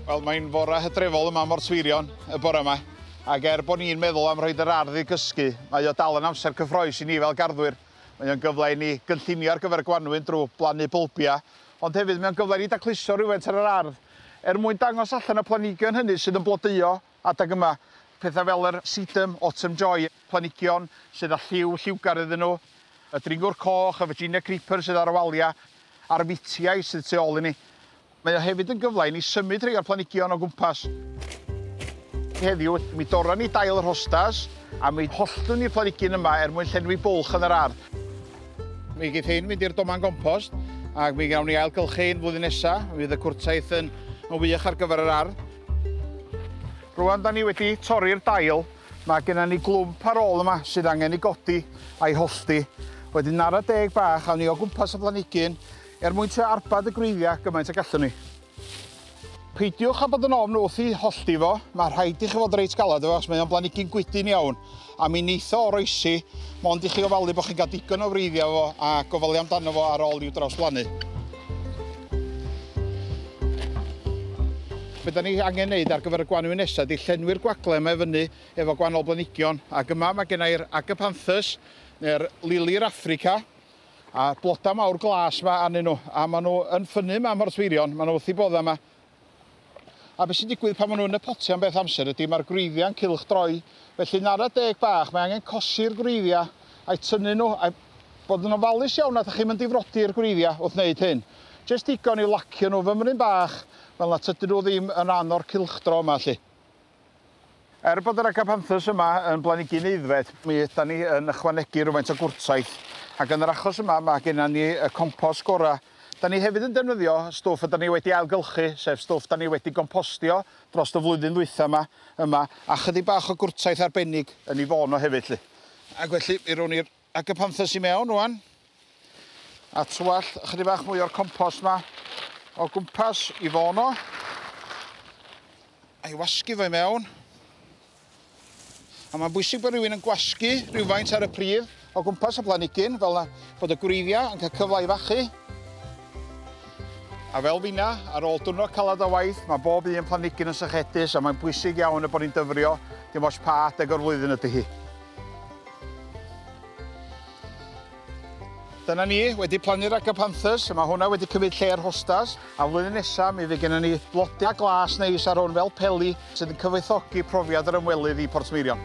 Wel, mae'n fore hydrefol yma mor Tweirion y bore yma, ac er bod ni'n meddwl am rhoi yr ardd i gysgu, mae o dal yn amser cyffroes i ni fel garddwyr. Mae o'n gyfle i ni gynllunio ar gyfer y gwanwyn drwy blannu bylbiau, ond hefyd mae o'n gyfle i ni dacluso rhywfaint ar yr ardd er mwyn dangos allan y planhigion hynny sydd yn blodeuo Adeg yma, pethau fel yr sedum, autumn joy, planhigion sydd â lliw lliwgar iddyn nhw, y dringwr coch, y Virginia creeper sydd ar y waliau, a'r fitiau sydd tu ôl i ni. Mae o hefyd yn gyfle i ni symud rhai o'r planhigion o gwmpas. Heddiw, mi dorron ni dail yr hostas a mi holltwn ni'r planhigyn yma er mwyn llenwi bwlch yn yr ardd. Mi geith hein fynd i'r doman gompost ac mi gawn ni ailgylchu hein flwyddyn nesa. Mi fydd y cwrtaith yn wych ar gyfer yr ardd. Rwan da ni wedi torri'r dail, mae genna ni glwmp ar ôl yma sydd angen ei godi a'i hollti. Wedyn nara deg bach awn ni o gwmpas y planhigyn er mwyn trio arbad y gwreiddiau gymaint y gallwn ni. Peidiwch â bod yn ofn wrth ei hollti fo, mae rhaid i chi fod reit galed efo fo achos mae o'n blanhigyn gwydyn iawn A mi neith o oroesi, mond i chi ofalu bod chi'n cael digon o wreiddiau efo fo a gofalu amdano fo ar ôl i'w drawsblannu. Be da ni angen wneud ar gyfer y gwanwyn nesaf ydy llenwi'r gwagle yma i fyny efo gwahanol blanhigion ac yma mae gen i'r Agapanthus neu'r Lili'r Affrica a bloda mawr glas yma arnyn nhw a maen nhw yn ffynnu yma am y rhosfeirion, maen nhw wrth eu boddau yma. A beth sy'n digwydd pan maen nhw yn y potiau am beth amser ydy mae'r gwreiddiau'n cylchdroi. Felly'n ara deg bach mae angen cosi'r gwreiddiau a'i tynnu nhw a bod yn ofalus iawn nad ydych chi'n mynd difrodi'r gwreiddiau wrth wneud hyn. Jyst digon yw lacio nhw fymryn bach fel na tydyn nhw ddim yn rhan o'r cylchdro yma 'lly. Er bod yr Agapanthus yma yn blanigyn aeddfed, mi ydan ni yn ychwanegu rhywfaint o gwrtaith, ac yn yr achos yma ma' gennan ni y compost gora'. Da ni hefyd yn defnyddio stwff ydan ni wedi ailgylchu, sef stwff da ni wedi gompostio drost y flwyddyn ddwytha' ma yma, a chydig bach o gwrtaith arbennig yn ei fôn o hefyd 'lly. Ac felly mi rown ni'r Ac y panthyrs i mewn rwan. A twallt ychydig bach mwy o'r compost ma o gwmpas i fono. A'i wasgu fo i mewn. A mae'n bwysig bod rhywun yn gwasgu rhywfaint ar y pridd o gwmpas y planigyn, fel na bod y gwreiddiau yn cael cyfle i fachu. A fel finna, ar ôl dwrnod calad o waith, mae bob un planigyn yn sychedus a mae'n bwysig iawn y bod ni'n dyfrio dim ots pa adeg o'r flwyddyn ydy hi. Dyna ni, wedi plannu'r agapanthus, mae hwnna wedi cymryd lle'r hostas, a flwyddyn nesaf mi fydd gennym ni blodau glas neis ar hwn fel peli sydd yn cyfoethogi profiad yr ymwelydd i Portmeirion.